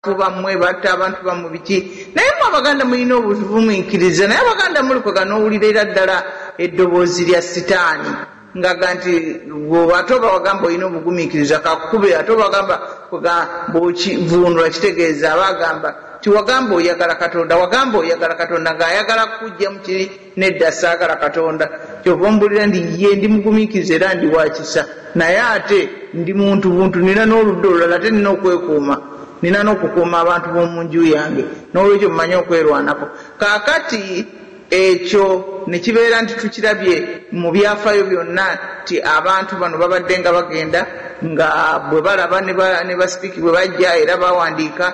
kuba mwe batta abantu bamu biki naye mwe abaganda mulina obuvuminkiriza naye abaganda mulikoga nowulira era ddala eddoboozi lya sitaani ngaga nti ate oba wagamba olina obugumiikiriza kakube ate obagamba bwokivundula kitegeeza aba agamba tiwagamba oyagala katonda wagamba oyagala katonda ngaayagala kukugjamu kiri Nedda, ssaagala Katonda. Ky'ova omubuulira nti, Yee, ndi mugumiikiriza era ndi wa kisa, naye ate ndi muntu buntu. Nnina n'oludda olulala. Ate nnina okwekuuma. Nnina n'okukuuma abantu b'omu nju yange. N'olwekyo mmanyi okwerwanako. Kaakati, ekyo ne kibeera nti tukirabye mu byafaayo byonna nti abantu bano babaddenga bagenda, nga bwe balaba ne ba, ne basipiiki bwe bajja era bawandiika,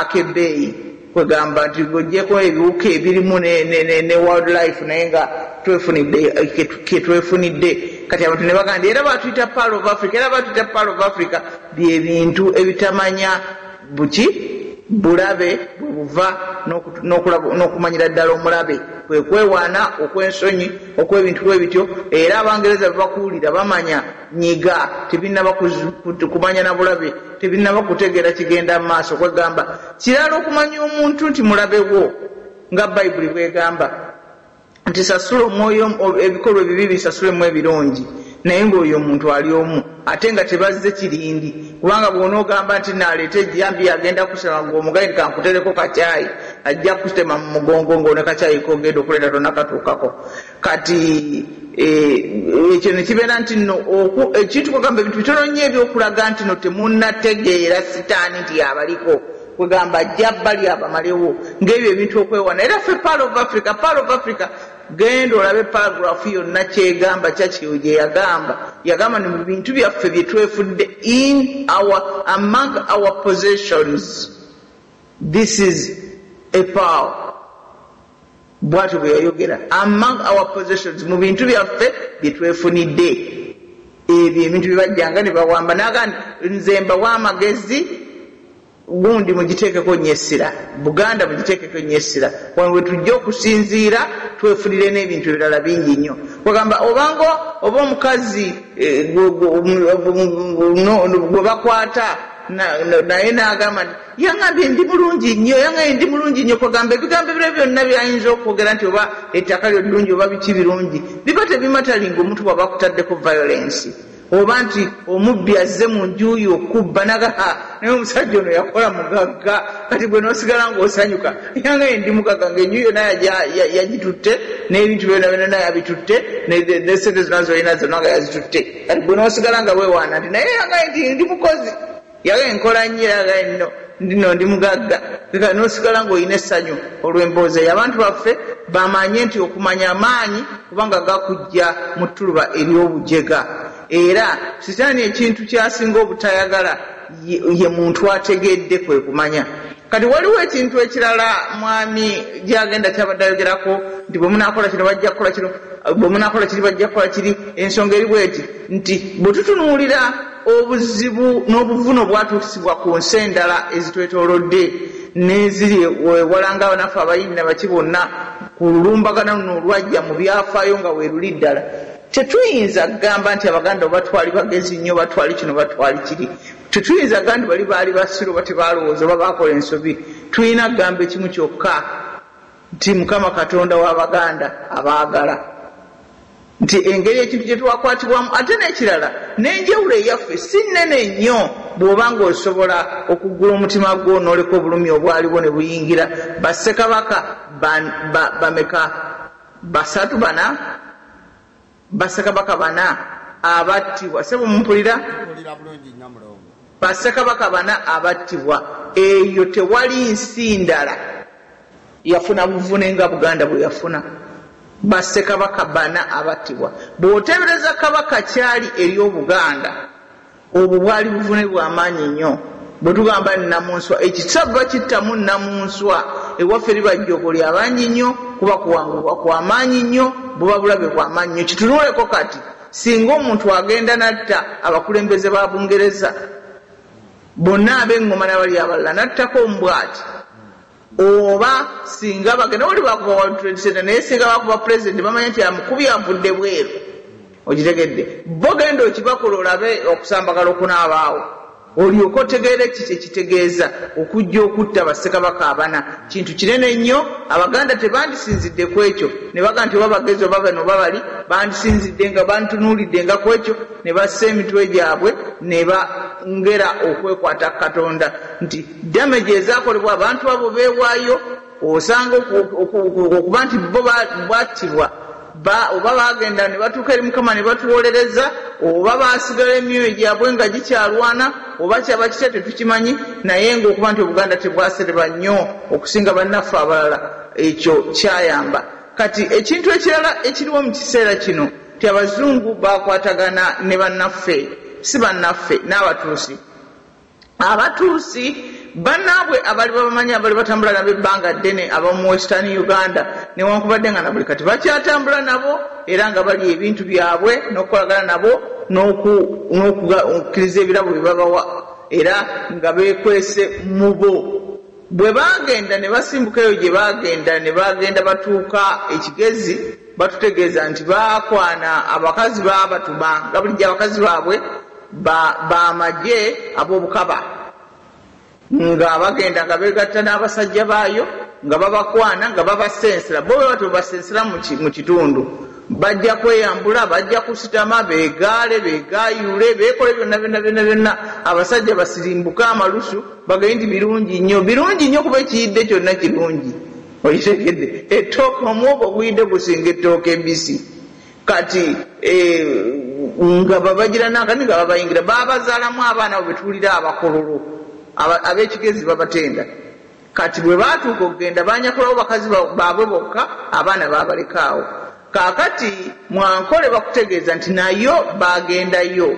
akebbeeyi kwegamba nti ng'ogyeko ebiwuka ebirimu ne world life naye nga twefunidde ketwefunidde kati abantu ne bagamba nti era batuyita pearl of africa era batuyita pearl of africa bye bintu ebitamanya buki bulabe bwe buva n'okumanyira ddala omulabe kwe kwewaana okw'ensonyi okw'ebintu bwe bityo era abangereza bwe bakuwulira bamanya nyiga tebinaba kumanya na bulabe tebinaba kutegeera kigenda mu maaso kwegamba kirala okumanya omuntu nti mulabewo nga bayibuli bwegamba nti sasula omwoyo ebikolwa ebibi bisasulemu ebirungi naye ng'oyo omuntu ali omu ate nga tebazze kirindi kubanga bw'onoogamba nti naaleeta ejjambi agenda kusema ng'omugayi kankutereko kakyayi ajja kutema mu mugongo ng'one kakyayi kogenda okuleeta tonakatuukako Kati e, ekyo ne kibeera nti nno ekintu kwegamba ebintu bitono nnyo ebyokulaga nti no temunnategeera sitaani nti yabaliko kwegamba ajja bali abamalewo ng'ebyo ebintu okwewana era ffe paal of africa paal of africa genda olabe paragraph yonna kyegamba kyakyeyo gye yagamba yagamba ni mu bintu byaffe bye twefudde in our among our possessions this is a power Bwatyo bwe yayogera. Among our possessions, mu bintu byaffe bye twefunidde, ebyo ebintu bye bajjanga ne bawamba, n'agamba nti, Nze mbawa amagezi, gundi mugiteekeko nnyo essira, Buganda mugiteekeko nnyo essira, wano we tujja okusinziira twefunire n'ebintu ebirala bingi nnyo. Kwegamba obanga oba omukazi eh, gwe bakwata naye n'agamba nti Yangambye ndi mulungi nnyo, yangambye ndi mulungi nnyo, kwegamba ebigambo ebirala byonna byayinza okwogera nti oba ettaka lyo ddungi oba biki birungi biba tebimatalinga omuntu bwaba akutaddeko violence oba nti omubbi azze mu nju yo okubba naga ha naye omusajja ono yakola mugagga kati gwe nosigala ngaosanyuka yanga ye ndi mugagga ngaenju yona yagitutte n'ebintu byona byona yabitutte nesente zona zolina zona nga yazitutte kati gwe nosigala nga wewaana nti naye yanga ye nti ndi mukozi Yagambye, Nkola nnyo era nga nno ndino ndi mugagga. Kati kati n'osigala ng'olina essanyu olw'emboozi eyo. Abantu baffe bamanye nti okumanya maanyi kubanga gakuggya mu ttuluba ery'obujega. Era Sitaani ekintu ky'asinga obutayagala ye muntu ategedde, kwe kumanya. Kati waliwo ekintu ekirala Mwami Gyagenda ky'abadde ayogerako nti, Bwe munaakola kino bajja kukola kino, bwe munaakola kiri bajja kukola kiri. Ensonga eri bw'eti nti, bwe tutunuulira. obuzibu n'obuvune obwatuusibwa ku nsi endala ezitwetoolodde n'eziri ewala ng'abanaffe abayindi na baki bonna ku lulumbagana luno olwajja mu byafaayo nga weeruli ddala. Tetuyinza kugamba nti Abaganda oba twali bagezi nnyo oba twali kino oba twali kiri. Tetuyinza kugamba nti bali baali basiru oba tebaalowooza oba baakola ensobi. Tulina kugamba ekimu kyokka. nti Mukama Katonda wa Baganda abaagala, nti engeri ekintu gye twakwatibwamu ate n'ekirala n'enjawulo eyaffe si nnene nnyo bw'oba ng'osobola okuggula omutima gwo n'oleka obulumi obwaliwo ne buyingira Bassekabaka ba, ba, bameka? Basatu? Bana? Bassekabaka bana abattibwa. Ssebo mumpulira? Nkuwulira bulungi nnyo Mulongo. Bassekabaka bana abattibwa. Eyo tewali nsi ndala yafuna buvune nga Buganda bwe yafuna. Bassekabaka bana abattibwa. Bw'oteebereza Kabaka ky'ali eri Obuganda. Obwo bwali buvune bwa maanyi nnyo. Bwe tugamba nnamunswa, ekyo kisava kittamu nnamunswa, ewaffe liba jjoogo lya bangi nnyo, kuba kuwangulwa kwa maanyi nnyo, buba bulabe bwa maanyi nnyo. Kitunuuleko kati, Singa omuntu agenda n'atta abakulembeze ba Bungereza bonna, ab'eŋŋoma na bali abalala, n'attako omu bw'ati. Oba singa bagenda wali bakuba world trade center naye singa bakuba president bamanya nti amukubye avudde bweru okitegedde bo genda okibakole olabe okusambagala okunaabaawo olyoke otegeere kki kyekitegeeza okujja okutta ba ssekabaka abana kintu kinene nnyo abaganda tebandisinzidde kwekyo nebaga nti oba bagezi oba bano oba bali bandisinzidde nga bantunuulidde nga kwekyo nebassa emitwe gyabwe neba ngera okwekwata katonda nti Damage ezakolebwa abantu abo beewaayo osanga okuba nti bo bwattibwa oba baagenda ne batuuka eri Mukama ne batuwolereza oba baasigala emyoyo gyabwe nga gikyalwana oba kyaba kitya tetukimanyi naye ng'okuba nti Obuganda tebwasereba nnyo okusinga bannaffe abalala ekyo kyayamba. Kati ekintu ekirala ekiriwo mu kiseera kino nti Abazungu baakwatagana ne bannaffe si bannaffe n'Abatuusi. Abatuusi banaabwe abaali babamanyi abaali batambula nabo ebbanga ddene ab'omu Western Uganda newankubadde nga na buli kati bakyatambula nabo era nga balya ebintu byabwe n'okukolagana nabo n'okukkiriza ebirabo bye babawa era nga beekwese mu bo. Bwe baagenda ne basimbuka eyo gye baagenda, ne bagenda batuuka e Kigezi, batutegeeza nti baakwana abakazi baabatuma nga bulijjo abakazi baabwe ba ba magye ab'obukaba nga bagenda nga beegatta n'abasajja baayo nga babakwana nga babasensera bo bwe batyo bwe basensera mu ki mu kitundu bajja kweyambula bajja kusitama beegaale beegaayuule beekole byonna byonna byonna byonna abasajja basirimbuke amalusu Bagambye nti birungi nnyo, birungi nnyo kuba ekiyidde kyonna kirungi. Okitegedde? Ettooke, omuwogo oguyidde gusinga ettooke ebbisi. Kati e, nga babagira n'akati nga babayingira. Baabazaalamu abaana abo be tuwulira abakololo, ab'ekigezi babatenda. Kati bwe baatuuka okugenda, baanyakulawo bakazi baabwe bokka, abaana baabaleka awo. Kakati mu Ankole bakutegeeza nti nayo bagendayo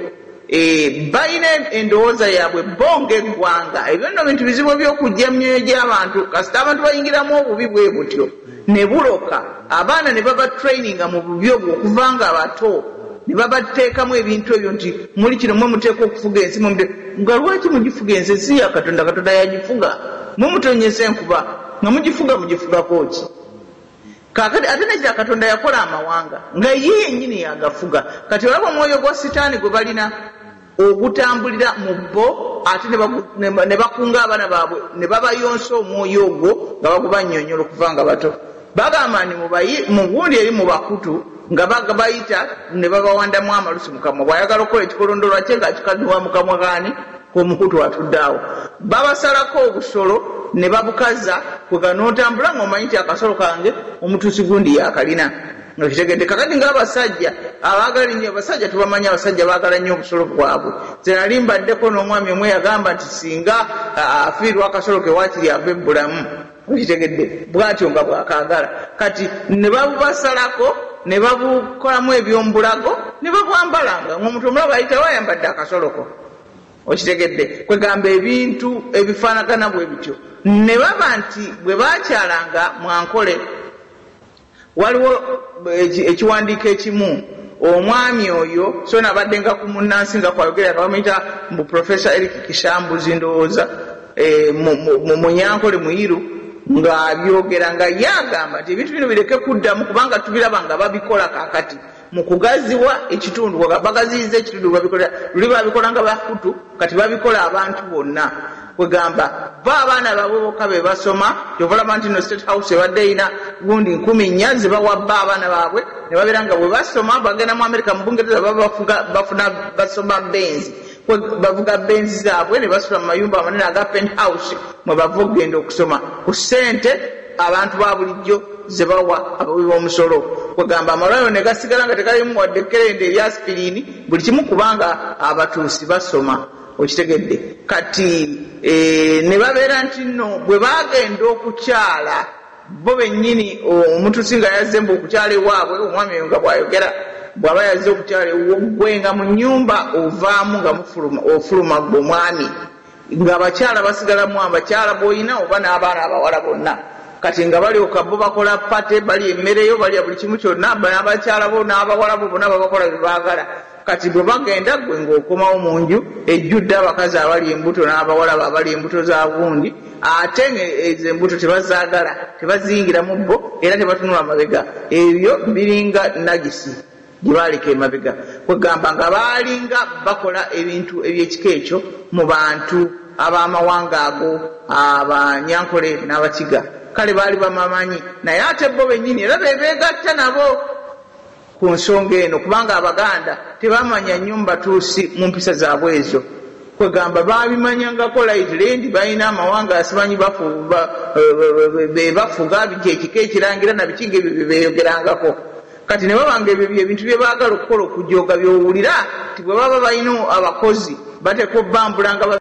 eeh balina endowooza yabwe bbo nga eggwanga. Ebyo nno bintu bizibu eby'okujja mu myoyo gy'abantu kasita abantu bayingiramu obubi bwebutyo ne buloka abaana ne baba traininga mu bubi obwo okuva nga bato ne babateekamu ebintu ebyo nti muli kino mwe muteekwa okufuga ensi mwe mute nga lwaki mugifuga ensi ensi ya Katonda Katonda yagifuga mwe mutonnyesa enkuba nga mugifuga mugifugako ki? Kaakati, ate ne kya Katonda yakola amawanga, nga Ye yennyini y'agafuga. Kati olaba omwoyo gwa ssitaani gwe balina, ogutambulira mu bo, ate ne bagu, ne, ne bakunga abaana baabwe ne babayonsa omwoyo ogwo, nga bagubannyonnyola okuva nga bato. Bagamba nti, Mubayi, mu gundi eri mu bakutu, nga ba, bayita ne babawandamu amalusu, mu kamwa. Bw'ayagala okukola ekikolondolwa kye, nga akikaddiwa mu kamwa k'ani? Omukutu atudde awo babasalako obusolo ne babukaza kwega notambula nga omanyi nti akasolo kange omutuusi gundi yakalina nga kitegedde kakati nga abasajja abagala ennyo abasajja tubamanyi abasajja bagala nnyo obusolo bwabwe nze nali mbaddeko n'omwami omwe yagamba nti singa afiirwa akasolo ke wakiri ave bulamu Okitegedde? Bw'atyo nga bw'akaagala. Kati, ne babubasalako, ne babukolamu eby'omu bulago, ne babwambala, nga, nga omuntu omulabe ayitawo ayambadde akasolo ko. Okitegedde? Kwegamba, ebintu ebifaanagana bwe bityo. Ne baba nti, Bwe baakyalanga, mwankole. Waliwo ekiwandiiko ekimu omwami oyo sona abaddenga ku munnansi nga kwayogera nga bamuyita mbu Professor Eric Kishambuzi ndowooza e, Munyankole Muyiru ng'abyogera nga ye agamba nti ebintu bino bireke kuddamu kubanga tubiraba nga babikola kaakati. mu kugaziwa ekitundu bagaziyiza ekitundu babikola luli babikolanga bakutu kati babikola abantu bonna kwegamba bo abaana babwe boka bebasoma kyovalaba nti no state house ebadde erina gundi nkumi nnya zebawa bba abaana baabwe nebabeera nga bwebasoma bagenda mu amerika mu bungereza baba bafuna basoma benzi bavuga benzi zaabwe ne basula mu mayumba amanene aga pent house mwe bava okugenda okusoma ku ssente abantu ba bulijjo ze bawa abawi b'omusolo kwegamba amalwaliro ne gasigala nga tegalimu wadde kerende erya sipiriini buli kimu kubanga abatuusi basoma okitegedde kati eh, ne babeera nti nno bwe bagenda okukyala Bo bennyini omutusi nga yazze mbu okukyala ewaabwe, omwami oyo nga bw'ayogera, bw'aba yazze okukyala ewuwo, ggwe nga mu nnyumba ovaamu nga mufuluma, ofuluma ggwe mwami, ng'abakyala basigalamu abakyala b'olina oba n'abaana abawala bonna. Kati nga balyoka bo bakola party, balya emmere yo, balya buli kimu kyonna, n'abakyala bo n'abawala bo bonna babakola bye baagala. Kati bwe bagenda ggwe ng'okomawo mu nju ejjudde abakazi abali embuto n'abawala bo abali embuto za gundi ate ezo embuto tebazaagala, tebaziyingira mu bo era tebatunula mabega. Ebyo biringa nagisi gye baaleka emabega. Kwegamba nga baalinga bakola ebintu eby'ekika ekyo mu bantu ab'amawanga ago, Abanyankole n'Abakiga. Kale baali babamanyi naye ate bo bennyini era be beegatta nabo. ku nsonga eno kubanga Abaganda tebamanya nnyo mu Batuusi mu mpisa zaabwe ezo. Kwegamba baabimanyangako lightly nti balina amawanga asimanyi bafu, ba, be bafuga nti ekika ekirangira na biki ng'ebyo bye beeyogerangako. Kati ne baba ng'ebyo bye bintu bye baagala okukola okujooga by'owulira nti bwe baba balina abakozi bateekwa obbambula nga